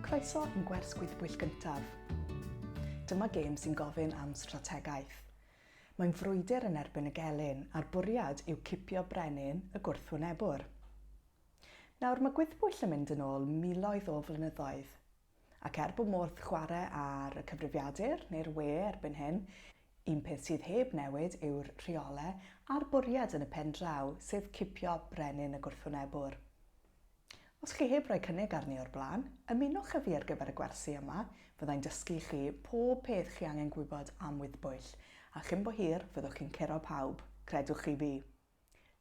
Croeso yn gwers gwyddbwyll gyntaf. Dyma gêm sy'n gofyn am strategaeth. Mae'n frwydr yn erbyn y gelyn, a'r bwriad yw cipio brenin y gwrthwynebwr. Nawr, mae gwyddbwyll yn mynd yn ôl miloedd o flynyddoedd, ac er bod modd chwarae ar y cyfrifiadur, neu'r we erbyn hyn, un peth sydd heb newid yw'r rheolau a'r bwriad yn y pen draw, sef cipio brenin y gwrthwynebwr. Os chi heb roi cynnig arni o'r blaen, ymunwch â fi ar gyfer y gwersi yma, fyddai'n dysgu i chi pob peth chi angen gwybod am wyddbwyll, a chyn bo hir fyddwch chi'n curo pawb, credwch chi fi!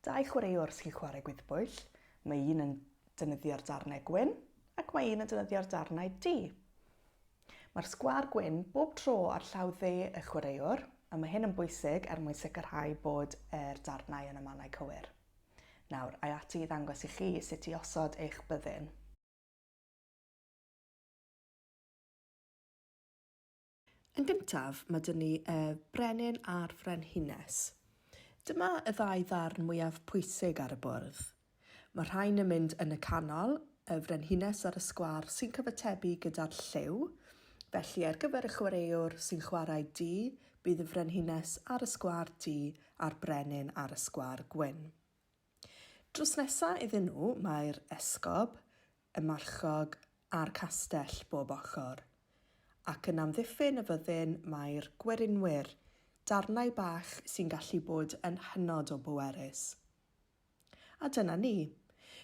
Dau chwaraewr os chi'n chwarae gwyddbwyll, mae un yn defnyddio'r darnau gwyn ac mae un yn defnyddio'r darnau du. Mae'r sgwâr gwyn bob tro ar llaw dde y chwaraewr, a mae hyn yn bwysig er mwyn sicrhau bod yr darnau yn y mannau cywir. Nawr, ai ati i ddangos i chi sut i osod eich byddin. Yn gyntaf, mae dyn ni y brenin a'r frenhines. Dyma y ddau ddarn mwyaf pwysig ar y bwrdd. Mae rhain yn mynd yn y canol, y frenhines ar y sgwâr sy'n cyfatebu gyda'r lliw, felly ar gyfer y chwaraewr sy'n chwarae du, Bydd y Frenhines ar y sgwâr du a'r Brenin ar y sgwâr gwyn. Drws nesa iddyn nhw mae'r esgob, y marchog a'r castell bob ochr. Ac yn amddiffyn y fyddin mae'r gwerinwyr, darnau bach sy'n gallu bod yn hynod o bwerus. A dyna ni.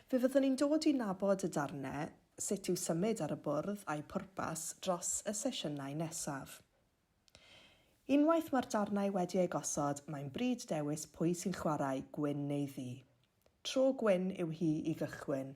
Fe fyddwn ni'n dod i nabod y darnau, sut i'w symud ar y bwrdd a'u pwrpas dros y sesiynau nesaf. Unwaith mae'r darnau wedi eu gosod, mae'n bryd dewis pwy sy'n chwarae, gwyn neu ddu. Tro gwyn yw hi i gychwyn.